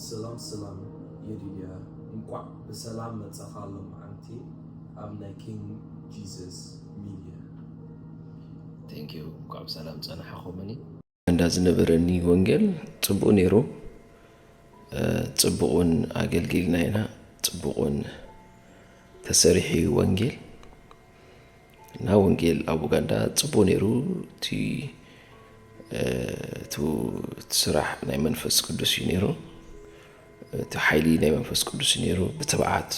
ስላም ስላም የዲድያ እንኳዕ ብሰላም መፃኻ ሎምዓንቲ ኣብ ናይ ኪንግ ጂዝስ ሚድያ። Thank you እንኳዕ ብሰላም ፀናሕኹምኒ። እንዳ ዝነበረኒ ወንጌል ጽቡቅ ነይሩ ጽቡቅ ውን ኣገልጊልና ኢና ጽቡቅ ውን ተሰሪሑ እዩ ወንጌል እና ወንጌል ኣብ ኡጋንዳ ጽቡቅ ነይሩ እቲ ስራሕ ናይ መንፈስ ቅዱስ እዩ ነይሩ እቲ ሓይሊ ናይ መንፈስ ቅዱስ እዩ ነይሩ ብትብዓት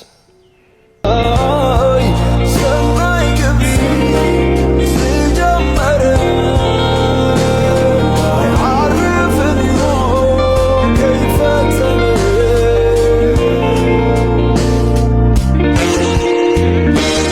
ሰናይ ግብሪ ዝጀመረ ኣይዓርፍን እሞ ከይፈጸመ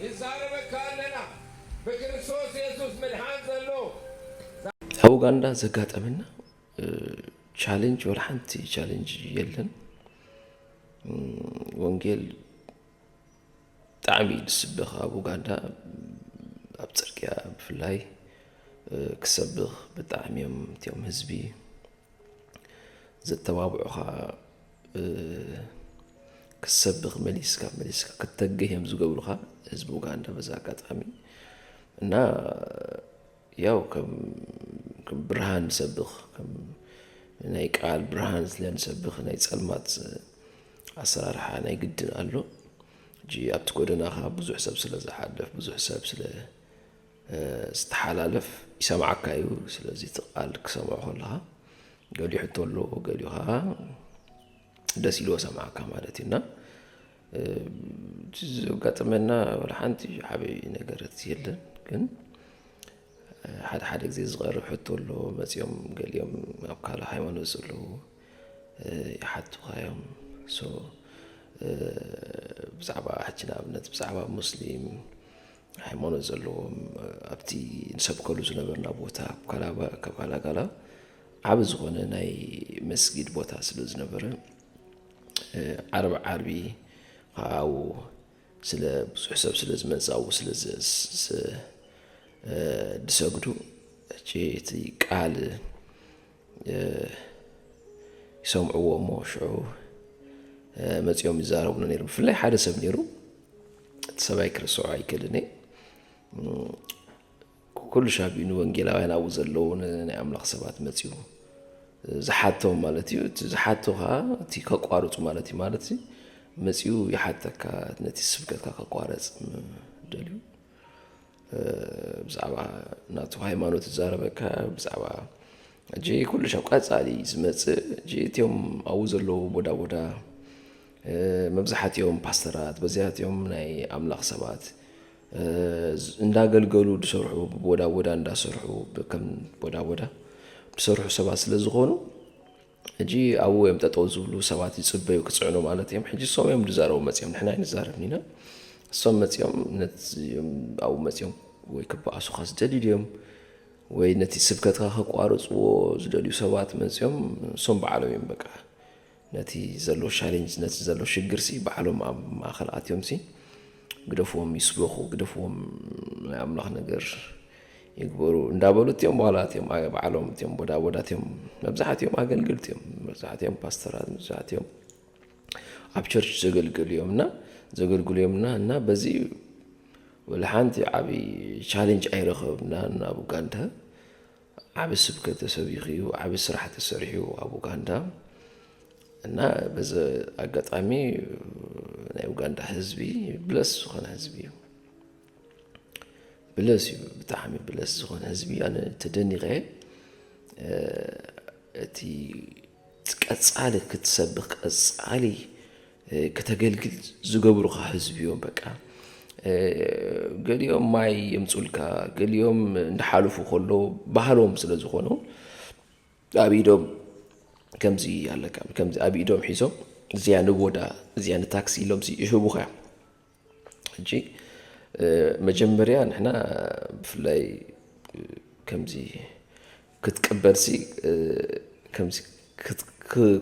ንዛረበካ ኣለና ብክርስቶስ የሱስ ምድሓን ዘሎ። ኣብ ኡጋንዳ ዘጋጠመና ቻሌንጅ ወላ ሓንቲ ቻሌንጅ የለን። ወንጌል ብጣዕሚ እዩ ዝስበኽ ኣብ ኡጋንዳ ኣብ ፅርግያ ብፍላይ ክሰብኽ ብጣዕሚ እዮም እትኦም ህዝቢ ዘተባብዑኻ ክትሰብኽ መሊስካ መሊስካ ክትተግህ እዮም ዝገብሩኻ ህዝቢ ኡጋንዳ በዚ ኣጋጣሚ እና ያው ከም ከም ብርሃን ንሰብኽ ከም ናይ ቃል ብርሃን ስለ ንሰብኽ ናይ ጸልማት ኣሰራርሓ ናይ ግድን ኣሎ ሕጂ ኣብቲ ጎደናኻ ብዙሕ ሰብ ስለ ዝሓልፍ ብዙሕ ሰብ ስለ ዝተሓላለፍ ይሰምዓካ እዩ ስለዚ እቲ ቃል ክሰምዖ ከለኻ ገሊኡ ሕቶ ኣሎ ገሊኡ ከዓ ደስ ኢልዎ ሰምዓካ ማለት እዩ እና ዘጋጥመና ወላ ሓንቲ ዓብዪ ነገረት የለን ግን ሓደ ሓደ ግዜ ዝቐርብ ሕቶ ኣሎ መፂኦም ገሊኦም ኣብ ካልእ ሃይማኖት ዘለዉ ይሓቱኻ እዮም ሶ ብዛዕባ ሕጂ ንኣብነት ብዛዕባ ሙስሊም ሃይማኖት ዘለዎም ኣብቲ ንሰብከሉ ዝነበርና ቦታ ካብ ካላጋላ ዓብ ዝኾነ ናይ መስጊድ ቦታ ስለ ዝነበረ ዓርብ ዓርቢ ኸዓው ስለ ብዙሕ ሰብ ስለ ዝመዛው ስለ ድሰግዱ እቲ ቃል ይሰምዕዎ እሞ ሽዑ መፂኦም ይዛረቡና ነይሮም ብፍላይ ሓደ ሰብ ነይሩ እቲ ሰብኣይ ክርስዖ ኣይክእልን እየ ኩሉ ሻብኡ ንወንጌላውያን ኣብኡ ዘለዉ ናይ ኣምላኽ ሰባት መፅኡ ዝሓቶም ማለት እዩ እቲ ዝሓቶ ከዓ እቲ ከቋርፁ ማለት እዩ ማለት መፅኡ ይሓተካ ነቲ ስብከትካ ከቋረፅ ደልዩ ብዛዕባ ናቱ ሃይማኖት ዝዛረበካ ብዛዕባ እጂ ኩሉ ሻብ ቀፃሊ ዝመፅእ እጂ እትዮም ኣብኡ ዘለዉ ቦዳ ቦዳ መብዛሓትኦም ፓስተራት በዚኣትኦም ናይ ኣምላኽ ሰባት እንዳገልገሉ ዝሰርሑ ብቦዳ ቦዳ እንዳሰርሑ ከም ቦዳ ቦዳ ዝሰርሑ ሰባት ስለ ዝኾኑ ሕጂ ኣብኡ እዮም ጠጠው ዝብሉ ሰባት ይጽበዩ ክጽዕኑ ማለት እዮም ሕጂ እሶም እዮም ዝዛረቡ መጽኦም ንሕና ኣይንዛረብን ኢና እሶም መጽኦም ኣብኡ መጽኦም ወይ ክበኣሱኻ ዝደልዩ ድዮም ወይ ነቲ ስብከትካ ከቋርፅዎ ዝደልዩ ሰባት መፅኦም እሶም በዓሎም እዮም በቃ ነቲ ዘሎ ሻሌንጅ ነቲ ዘሎ ሽግር ሲ በዓሎም ኣብ ማእኸል ኣትዮም ሲ ግደፍዎም ይስበኹ ግደፍዎም ናይ ኣምላኽ ነገር ይግበሩ እንዳበሉ እትዮም በኋላ እትዮም በዓሎም እትዮም ቦዳ ቦዳ እትዮም መብዛሕትኦም ኣገልግልቲ እዮም መብዛሕትኦም ፓስተራት መብዛሕትኦም ኣብ ቸርች ዘገልግሉ እዮም እና ዘገልግሉ እዮም እና እና በዚ ወላ ሓንቲ ዓብዪ ቻሌንጅ ኣይረኸብና ናብ ኡጋንዳ ዓቢ ስብከት ተሰቢኹ እዩ፣ ዓቢ ስራሕ ተሰሪሑ እዩ ኣብ ኡጋንዳ እና በዚ ኣጋጣሚ ናይ ኡጋንዳ ህዝቢ ብለስ ዝኾነ ህዝቢ እዩ። ብለስ እዩ ብጣዕሚ ብለስ ዝኾነ ህዝቢ ኣነ ተደኒቐ እቲ ቀጻሊ ክትሰብኽ ቀጻሊ ክተገልግል ዝገብሩኻ ህዝቢ እዮም በቃ ገሊኦም ማይ የምጹልካ ገሊኦም እንዳሓለፉ ከሎ ባህሎም ስለ ዝኾኑ ኣብ ኢዶም ከምዚ ኣለካ ከምዚ ኣብ ኢዶም ሒዞም እዚኣ ንቦዳ እዚኣ ንታክሲ ኢሎም ይህቡኻ እዮም ሕጂ መጀመርያ ንሕና ብፍላይ ከምዚ ክትቅበልሲ ከምዚ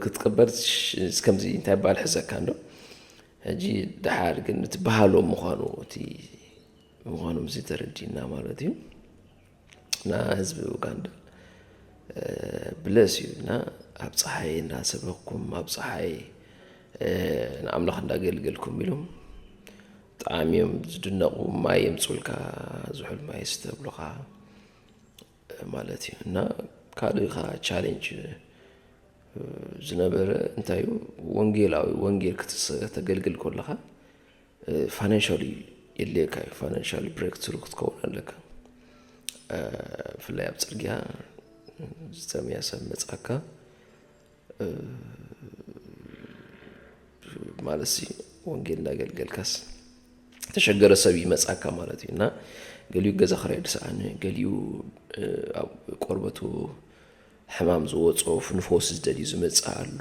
ክትቅበል ከምዚ እንታይ ባል ሕዘካ እንዶ ሕጂ ደሓር ግን እቲ ባህሎም ምዃኑ እቲ ምዃኖም እዚ ተረዲእና ማለት እዩ። እና ህዝቢ ኡጋንዳ ብለስ እዩ እና ኣብ ፀሓይ እናሰበኩም ኣብ ፀሓይ ንኣምላኽ እንዳገልገልኩም ኢሎም ብጣዕሚ እዮም ዝድነቑ ማይ የምፁልካ ዝሑል ማይ ስተ ይብሉኻ ማለት እዩ እና ካልእ ኻዓ ቻሌንጅ ዝነበረ እንታይ እዩ ወንጌላዊ ወንጌል ከተገልግል ከለኻ ፋይናንሻሊ የድልየካ እዩ ፋይናንሻሊ ብሬክ ትሩ ክትከውን ኣለካ ብፍላይ ኣብ ፅርግያ ዝተመያ ሰብ መፅኣካ ማለት ሲ ወንጌል እንዳገልገልካስ ተሸገረ ሰብ ይመፅኣካ ማለት እዩ እና ገሊኡ ገዛ ክራይ ድስኣነ ገሊኡ ኣብ ቆርበቱ ሕማም ዝወጾ ንፈውሲ ዝደልዩ ዝመጽእ ኣሎ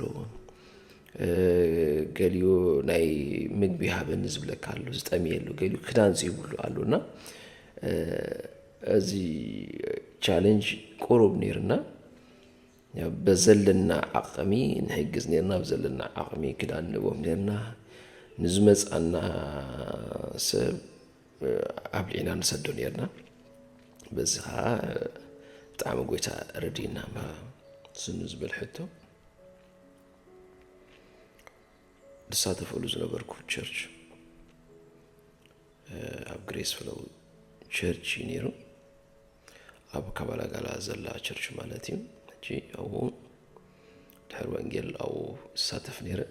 ገሊኡ ናይ ምግቢ ሃበኒ ዝብለካ ኣሎ ዝጠምየሉ ገሊኡ ክዳን ዘይብሉ ኣሎ እና እዚ ቻለንጅ ቁሩብ ነይርና በዘለና ዓቕሚ ንሕግዝ ነርና ብ ዘለና ዓቕሚ ክዳን ንህቦም ነርና ንዝመጽኣና ሰብ ኣብሊዕና ንሰዶ ነርና በዚ ከዓ ብጣዕሚ ጎይታ ረድእና እባ ስኑ ዝበል ሕቶ ዝሳተፈሉ ዝነበርኩ ቸርች ኣብ ግሬስ ፍለው ቸርች እዩ ነይሩ ኣብ ካባላጋላ ዘላ ቸርች ማለት እዩ ሕጂ ኣብኡ ድሕሪ ወንጌል ኣብኡ ዝሳተፍ ነይረ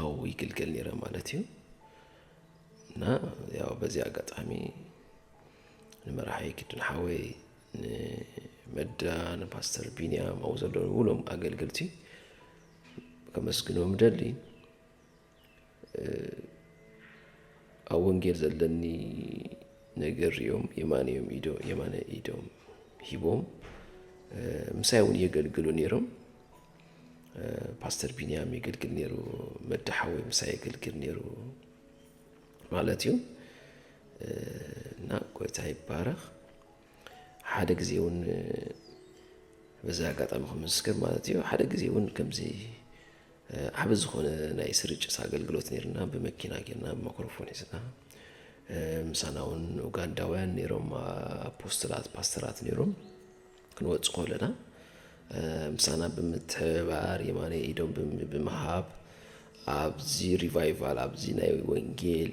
ኣዎ ይግልገል ነይረ ማለት እዩ። እና ያው በዚ ኣጋጣሚ ንመራሒ ግድን ሓወይ ንመዳ ንፓስተር ቢንያም ኣብኡ ዘለዉ ዉሉም ኣገልገልቲ ከመስግኖም እደሊ። ኣብ ወንጌል ዘለኒ ነገር ሪኦም የማነዮም ኢዶ የማነ ኢዶም ሂቦም ምሳይ እውን የገልግሉ ነይሮም። ፓስተር ቢንያም የገልግል ነይሩ፣ መድሓወይ ምሳይ የገልግል ነይሩ ማለት እዩ እና ጎይታ ይባረኽ። ሓደ ግዜ እውን በዚ ኣጋጣሚ ክምስክር ማለት እዩ ሓደ ግዜ እውን ከምዚ ዓቢ ዝኾነ ናይ ስርጭት ኣገልግሎት ኔርና ብመኪና ጌርና ብማክሮፎን ሒዝና ምሳና እውን ኡጋንዳውያን ኔሮም ኣፖስትላት ፓስተራት ኔሮም ክንወጽእ ከለና ምሳና ብምትሕብባር የማነ ኢዶም ብምሃብ ኣብዚ ሪቫይቫል ኣብዚ ናይ ወንጌል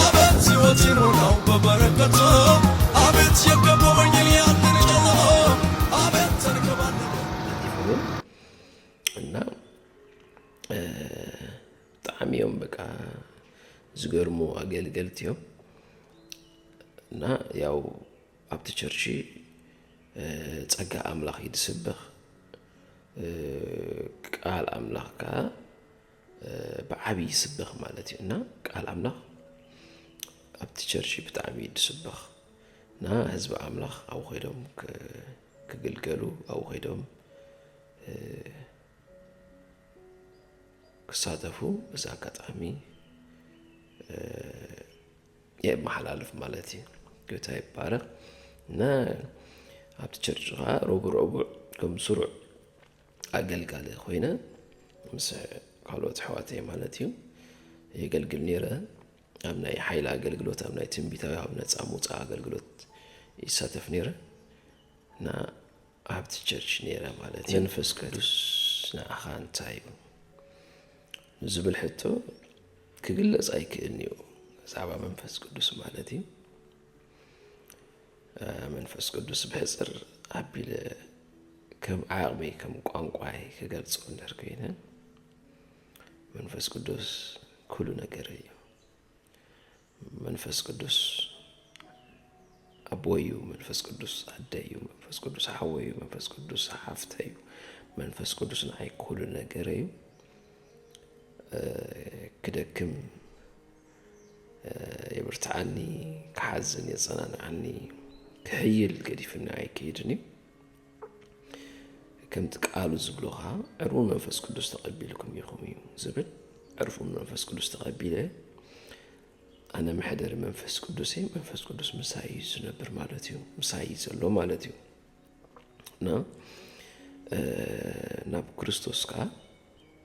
ኣቤት ሕይወት ይሙላው በበረከቶ ኣቤት የከቦ ወንጌል ያንን ጨለሞ ኣቤት ተንከባለለ ማለት ይኸውን እና እ፣ ብጣዕሚ እዮም በቃ ዝገርሙ ኣገልገልቲ እዮም እና ያው ኣብቲ ቸርች እ፣ ጸጋ ኣምላኽ እዩ ዝስበኽ እ፣ ቃል ኣምላኽ ከዓ ብዓብይ ይስበኽ ማለት እዩ እና ቃል ኣምላኽ ኣብቲ ቸርች ብጣዕሚ እዩ ዝስበኽ እና ህዝቢ ኣምላኽ ኣብኡ ከይዶም ክግልገሉ ኣብኡ ከይዶም ክሳተፉ በዚ ኣጋጣሚ የመሓላልፍ ማለት እዩ ጌታ ይባረኽ እና ኣብቲ ቸርች ከዓ ረቡዕ ረቡዕ ከም ስሩዕ ኣገልጋሊ ኮይነ ምስ ካልኦት ኣሕዋተይ ማለት እዩ የገልግል ነይረ። ኣብ ናይ ሓይሊ ኣገልግሎት ኣብ ናይ ትንቢታዊ ኣብ ነፃ ምውፃእ ኣገልግሎት ይሳተፍ ነይረ እና ኣብቲ ቸርች ነይረ ማለት እዩ። መንፈስ ቅዱስ ንዓኻ እንታይ እዩ ንዝብል ሕቶ ክግለጽ ኣይክእልን እዩ ብዛዕባ መንፈስ ቅዱስ ማለት እዩ። መንፈስ ቅዱስ ብሕፅር ኣቢለ ከም ዓቕመይ ከም ቋንቋይ ክገልፆ እንድሕር ኮይነ መንፈስ ቅዱስ ኩሉ ነገር እዩ። መንፈስ ቅዱስ ኣቦዩ፣ መንፈስ ቅዱስ ኣደዩ፣ መንፈስ ቅዱስ ሓወዩ፣ መንፈስ ቅዱስ ሓፍተዩ፣ መንፈስ ቅዱስ ንዓይ ኩሉ ነገር እዩ። ክደክም የብርትዓኒ ክሓዝን የጸናንዓኒ ክሕይል ገዲፍኒ ኣይክይድን እዩ ከምቲ ቃሉ ዝብሎ ከዓ ዕርቡን መንፈስ ቅዱስ ተቐቢልኩም ኢኹም እዩ ዝብል ዕርቡን መንፈስ ቅዱስ ተቐቢለ ኣነ መሕደሪ መንፈስ ቅዱስ እየ መንፈስ ቅዱስ ምሳይ እዩ ዝነብር ማለት እዩ ምሳይ እዩ ዘሎ ማለት እዩ እና ናብ ክርስቶስ ከዓ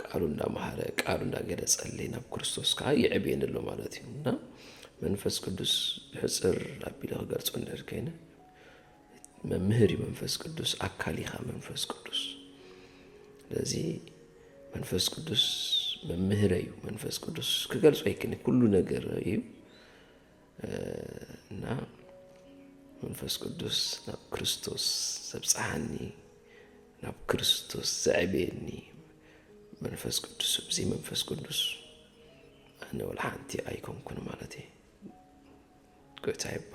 ቃሉ እንዳመሃረ ቃሉ እንዳገለጸለይ ናብ ክርስቶስ ከዓ ይዕብየኒ ኣሎ ማለት እዩ እና መንፈስ ቅዱስ ብሕፅር ኣቢለ ክገልፆ እንድሕር ከይነ መምህር እዩ መንፈስ ቅዱስ ኣካል ኢኻ መንፈስ ቅዱስ ስለዚ መንፈስ ቅዱስ መምህረ እዩ መንፈስ ቅዱስ ክገልፆ ኣይክእልን ኩሉ ነገር እዩ እና መንፈስ ቅዱስ ናብ ክርስቶስ ዘብጽሓኒ ናብ ክርስቶስ ዘዕበየኒ መንፈስ ቅዱስ እዚ መንፈስ ቅዱስ ኣነ ወላ ሓንቲ ኣይኮንኩን ማለት እዩ ጎይታ ይባ